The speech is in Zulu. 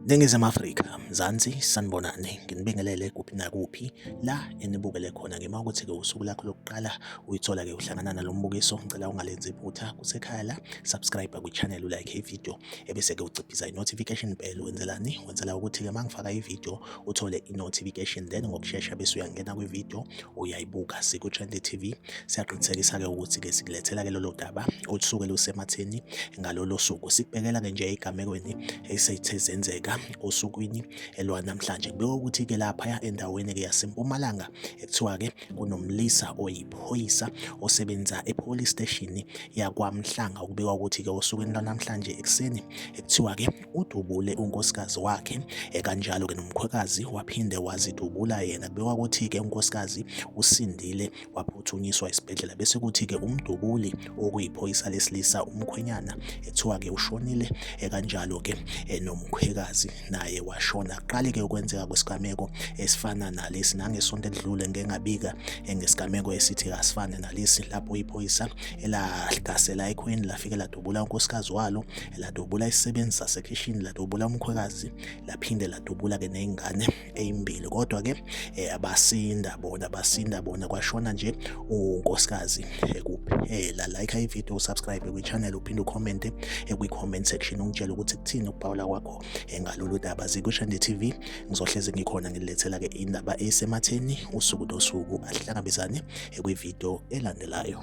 Ningizimu Afrika, Mzansi, sanibonani. Nginibingelele kuphi nakuphi la enibukele khona ngima ukuthi-ke usuku lakho lokuqala uyithola-ke uhlangana nalo mbukiso. Ngicela ungalenzi iphutha kusekhaya la, subscribe kwi-channel ulike ividiyo ebese-ke uciphiza i-notification bell wenzelani wenzela ukuthi-ke uma ngifaka ividiyo uthole i-notification then ngokushesha bese uyangena kwividiyo uyayibuka siku-trendy t v siyaqinisekisa-ke ukuthi-ke sikulethela-ke lolo daba olusuke lusematheni ngalolo suku sikubhekela-ke nje ey'gamekweni esethe zenzeka osukwini elwanamhlanje kubeka ukuthi-ke laphaya endaweni-ke yasempumalanga ekuthiwa-ke kunomlisa oyiphoyisa osebenza epolice station yakwamhlanga ukubikwa ukuthi-ke osukwini lwanamhlanje ekuseni ekuthiwa-ke udubule unkosikazi wakhe ekanjalo-ke nomkhwekazi waphinde wazidubula yena kubikwa ukuthi-ke unkosikazi usindile waphuthunyiswa esibhedlela bese kuthi-ke umdubuli okuyiphoyisa lesilisa umkhwenyana ethiwa-ke ushonile ekanjalo-ke eh, nomkhwekazi naye washona kuqale-ke ukwenzeka kwesigameko esifana nalesi nangesonto elidlule ngengabika eh, ngesigameko esithi asifane nalesi lapho iphoyisa elahlasela ekhweni lafike ladubula unkosikazi walo ladubula isisebenzi sasekhishini ladubula umkhwekazi laphinde ladubula-ke ney'ngane eyimbili kodwa ke eh, abasinda bona basinda bona kwashona nje unkosikazi eh, kuphela like i video subscribe kwi channel uphinde ucomment eh, kwi comment section ungitshela ukuthi kuthini ukubhawula kwakho ngalolu daba zikushande TV ngizohleze ngikhona ngilethela ke indaba esematheni usuku nosuku ahlangabezane kwi video elandelayo